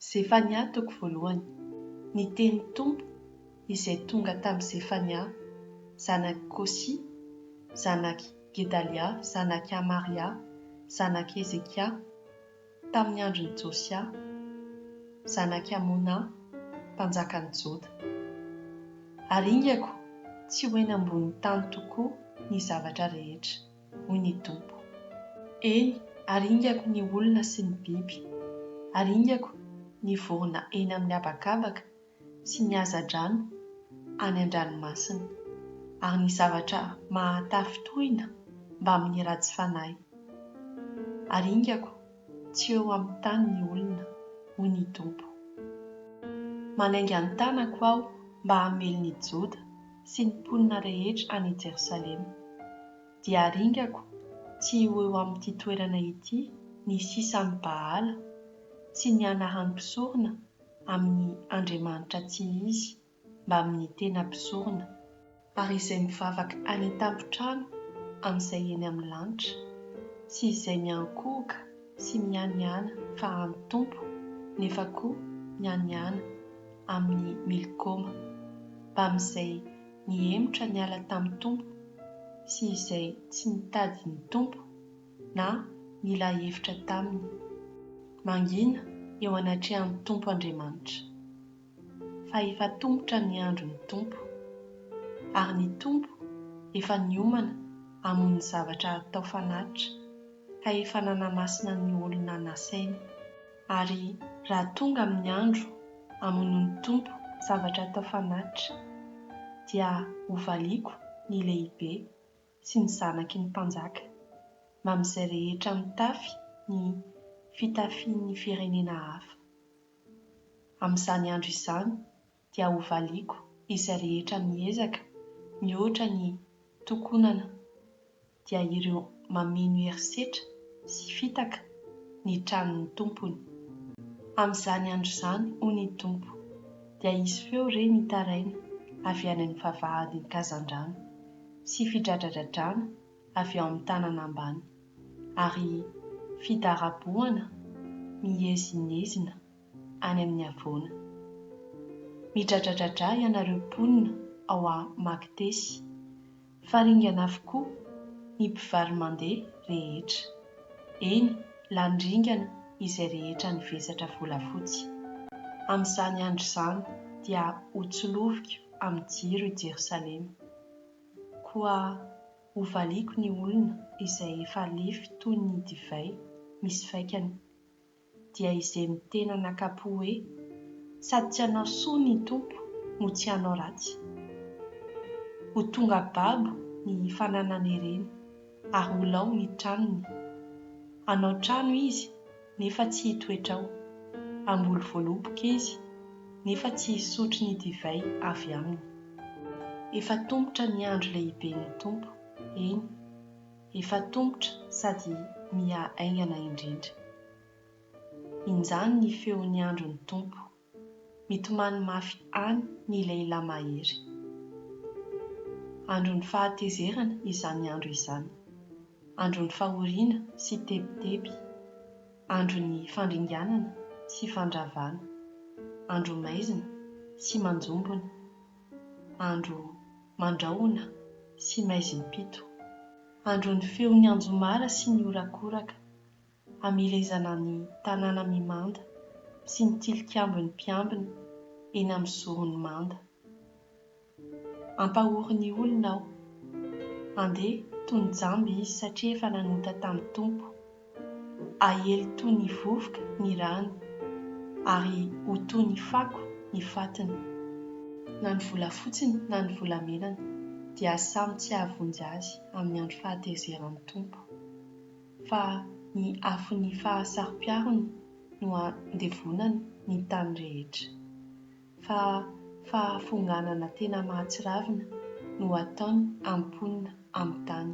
Zefania toko voalohany. Ny tenin'ny Tompo izay tonga tamin'i Zefania zanak'i Kosy, zanak'i Gedalia, zanak'i Amaria, zanak'i Hezekia, tamin'ny andron'i Josia, zanak'i Amona, mpanjakan'i Joda. Aringako tsy ho eny ambonin'ny tany tokoa ny zavatra rehetra. hoy ny Tompo. Eny, aringako ny olona sy ny biby, aringako ny vorona eny amin'ny habakabaka sy ny hazandrano any an-dranomasina, ary ny zavatra mahatafintohina mbamin'ny ratsy fanahy, aringako Tsy eo amin'ny tany ny olona, hoy ny Tompo. Manainga ny tanako Aho mba hamely ny Joda sy ny mponina rehetra any Jerosalema. Dia haringako tsy ho eo amin'ity toerana ity ny sisan'i Baala sy ny anaran'ny mpisorona amin'ny andriamanitra tsy izy mbamin'ny tena mpizorona, ary izay mivavaka any an-tampon-trano amin'izay eny amin'ny lanitra, sy izay miankohoka sy mihanihana fa an'ny Tompo, nefa koa mihanihana amin'i Milkoma, mbamin'izay nihemotra niala tamin'ny Tompo, sy izay tsy nitady ny Tompo, na nila hevitra taminy. Mangina eo anatrehan'ny Tompo Andriamanitra. fa efa tomotra ny andron'ny Tompo, ary ny Tompo efa niomana amon'ny zavatra atao fanatitra, ka efa nanamasina ny olona nasainy. Ary raha tonga amin'ny andro amonoan'ny Tompo zavatra atao fanatitra, dia hovaliako ny lehibe sy ny zanaky ny mpanjaka, mba amin'izay rehetra mitafy ny fitafian'ny firenena hafa. Amin'izany andro izany dia hovaliako izay rehetra miezaka mihoatra ny tokonana, dia ireo mameno herisetra sy fitaka ny tranon'ny tompony. Amin'izany andro izany, hoy ny Tompo, dia hisy feo re mitaraina avy any amin'ny vavahadin'ny kazandrano, sy fidradradradrana, avy ao amin'ny tanana ambany, ary fidarabohana miezinezina any amin'ny havoana. Midradradradra ianareo mponina ao Magtesy, fa ringana avokoa ny mpivaro-mandeha rehetra. Eny, lany ringana izay rehetra nivesatra volafotsy. Amin'izany andro izany dia hotsoloviko amin'ny jiro i Jerosalema. Koa hovaliako ny olona izay efa lefy toy ny divay misy faikany. Dia izay mitena nakapo hoe, Sady tsy hanao soa ny Tompo no tsy hanao ratsy. Ho tonga babo ny fananan'ireny, ary ho lao ny tranony. Hanao trano izy, nefa tsy hitoetra ao. Hamboly voaloboka izy, nefa tsy hisotro ny divay avy aminy. Efa tombotra ny andro lehiben'ny Tompo, eny, efa tombotra sady miha haingana indrindra. Injany ny feon'ny andron'ny Tompo. Mitomany mafy any ny lehilahy mahery. Andron'ny fahatezerana izany andro izany. Andron'ny fahoriana sy tebiteby. Andron'ny fandringanana sy fandravana. Andro maizina sy manjombona. Andro mandrahona sy maizim-pito. Andron'ny feon'ny anjomara sy ny horakoraka. hamelezana ny tanàna mimanda sy ny tilikambon'ny mpiambina eny amin'ny zoron'ny manda. Ampahory ny olona aho. Andeha toy ny jamba izy satria efa nanota tamin'ny Tompo. Aely toy ny vovoka ny rany, ary ho toy ny fako ny fatiny. Na ny volafotsiny na ny volamenany dia samy tsy hahavonjy azy amin'ny andro fahatezeran'ny Tompo. fa ny afon'ny fahasaro-piarony no andevonany ny tany rehetra, fa fahafonganana tena mahatsiravina no ataony am-ponina amin'ny tany.